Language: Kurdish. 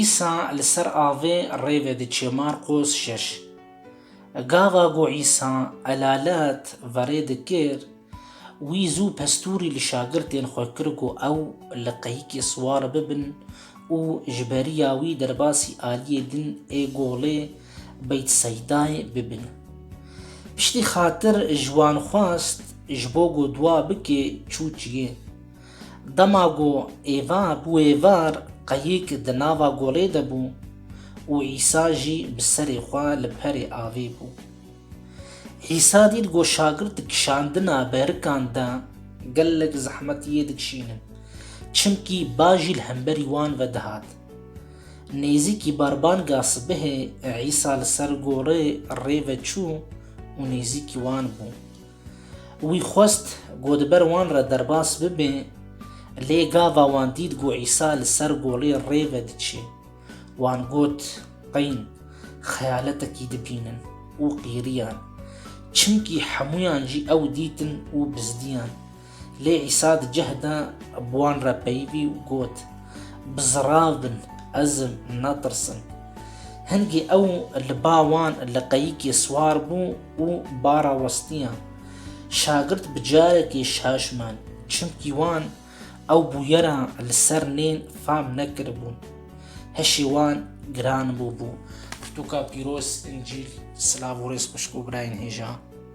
Îsa li ser avê rê vediçe Marqos şeş. Gava ku Îsa elalet verê dikir, wî zû pestûrî li şagirtên xwe kir ku ew li qeyikê siwar bibin û ji beriya wî derbasî aliyê din ê golê Beytseydayê bibin. Piştî xatir ji wan xwest ji bo ku dua bike çû çiyê. Dema ku Eva bûye var, qeyîk di nava golê de bû û Îsa jî bi serê xwe li perê avê bû. Îsa dît ku şagirt di kişandina berikan de gelek zehmetiyê dikişînin, çimkî ba jî li hemberî wan ve dihat. Nêzîkî berbanga sibehê Îsa li ser golê rê ve çû û nêzîkî wan bû. Wî xwest ku di ber wan re derbas bibe, lê gava wan dît ku Îsa li ser golê rê ve diçe. Wan got, Qeyn, xeyaletekî dibînin! û qîriyan. Çimkî hemûyan jî ew dîtin û bizdiyan. Lê Îsa di cih de bi wan re peyivî û got, Bizirav bin, ez im, netirsin. Hingî ew li ba wan li qeyikê siwar bû û ba re westiyan. Şagirt bi carekê şaşman, çimkî wan ew bûyera li ser nên fam nekiribûn. Hişê wan giran bûbû. Pirtûka pîroz, Încîl, silav û rêz xwişk û birayên hêja.